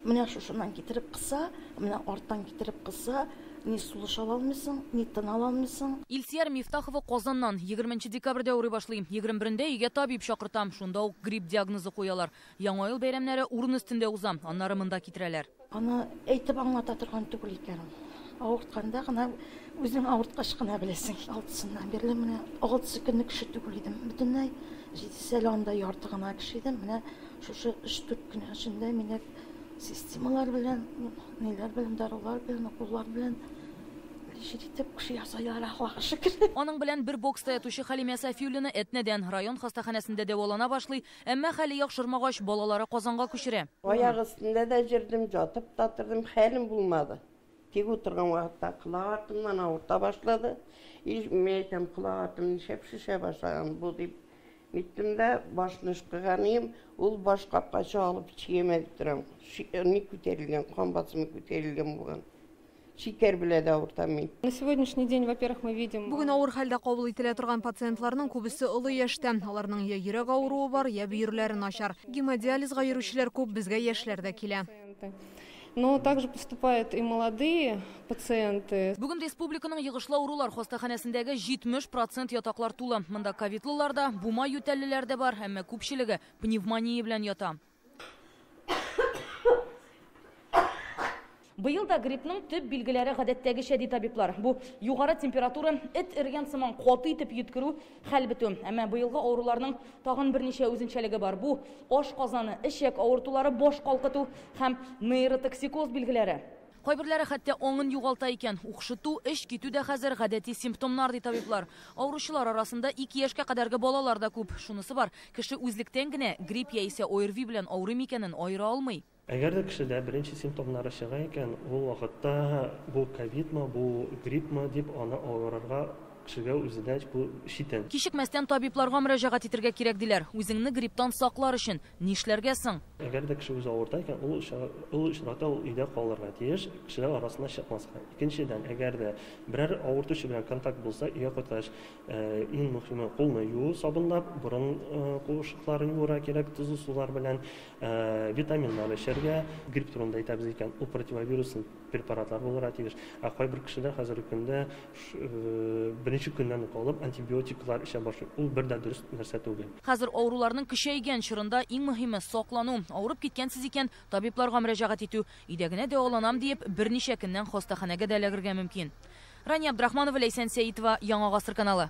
Менә шушыннан китереп кыса, менә арттан китереп кыса, ни сулыш ала алмыйсың, ни тын ала алмыйсың. Илсияр Мифтахова Казаннан. Егерменче декабрьдә авырый башлый. Егерме берендә өйгә табиб чакырта. Шунда ук грипп диагнозы куялар. Яңа ел бәйрәмнәре урын өстендә уза. Аннары монда китерәләр. Аны әйтеп аңлата торган түгел икән ул. Авыртканда гына, үзең авырткач кына беләсең. Алтысыннан бирле менә, алтысы көнлек кеше түгел идем бөтенләй. Җидесе әле анда ярты гына кеше идем. Менә Шушы өч-дүрт көн эчендә мине системалар белән, ниләр белән, дарулар белән, уколлар белән лечить итеп кеше ясайлар, Аллага шөкер. Аның белән бер бокста ятучы Хәлимә Сафиуллина Әтнәдән район хастаханәсендә дәвалана башлый, әмма хәле яхшырмагач, балалары Казанга күчерә. Аяк өстендә дә җөрдем, ятып та тордым, хәлем булмады. Тик утырган вакытта колак артымнан авырта башлады. Иш, мин әйтәм, колак артым нишләп шешә башлаган бу дип ниттем дә, башны ышкыганыем, ул баш капкачы алып чиемә дип торам. Ни күтәрелгән, кан басымы күтәрелгән булган. Шикәр белә дә авыртам мин. На сегодняшний день, во-первых, мы видим. Бүген авыр хәлдә кабул ителә торган пациентларның күбесе олы яшьтә. Аларның я йөрәк авыруы бар, я бөерләре начар. Гемодиализга йөрүчеләр күп, безгә яшьләр дә килә. Но также поступают и молодые пациенты. Бүген республиканың йогышлы авырулар хастаханәсендәге 70 процент ятаклар тулы. Монда ковидлылар да, бума ютәллеләр дә бар, әмма күпчелеге пневмония белән ята. Быел да гриппның төп билгеләре гадәттәгечә, ди табиблар. Бу, югары температура, эт эрегән сыман каты итеп йөткерү, Хәл бетү. Әмма быелгы авыруларның тагын берничә үзенчәлеге бар. Бу, аш казаны, эчәк авыртулары, баш калкыту һәм нейротоксикоз билгеләре. Кайберләре хәтта аңын югалта икән. Укшыту, эч китү дә хәзер, гадәти симптомнар, ди табиблар. Авыручылар арасында ике яшькә кадәрге балалар да күп. Шунысы бар, кеше үзлектән генә грипп яисә ОРВИ белән авырыймы икәнен аера алмый. Әгәр дә кешедә беренче симптомнары чыга икән, ул вакытта бу ковидмы, бу гриппмы дип аны алгарырга кешегә үзенә бу читен. Кичекмәстән табибларга мөрәҗәгать итергә кирәк, диләр. Үзеңне грипптан саклар өчен нишләргә соң? Әгәр дә кеше үзе авырта икән, ул ул очракта ул өйдә калырга тиеш, кешеләр арасына чыкмаска. Икенчедән, әгәр дә берәр авыртучы белән контакт булса, өйгә кайткач, Иң мөхиме кулны юу сабынлап, борын куышыкларын юырга кирәк, тозлы сулар белән, витаминнар эчәргә. Грипп турында әйтәбез икән, ул противовируслы препаратлар булырга тиеш. Ә кайбер кешеләр хәзерге көндә беренче көннән үк алып антибиотиклар эчә башлый. Ул бер дә дөрес нәрсә түгел. Хәзер авыруларның көчәйгән чорында иң мөхиме, саклану. Авырып киткәнсез икән, табибларга мөрәҗәгать итү. Өйдә генә дәваланам диеп, берничә көннән хастаханәгә дә эләгергә мөмкин. Рания Абдрахманова, Ләйсән Сәитова, Яңа гасыр каналы.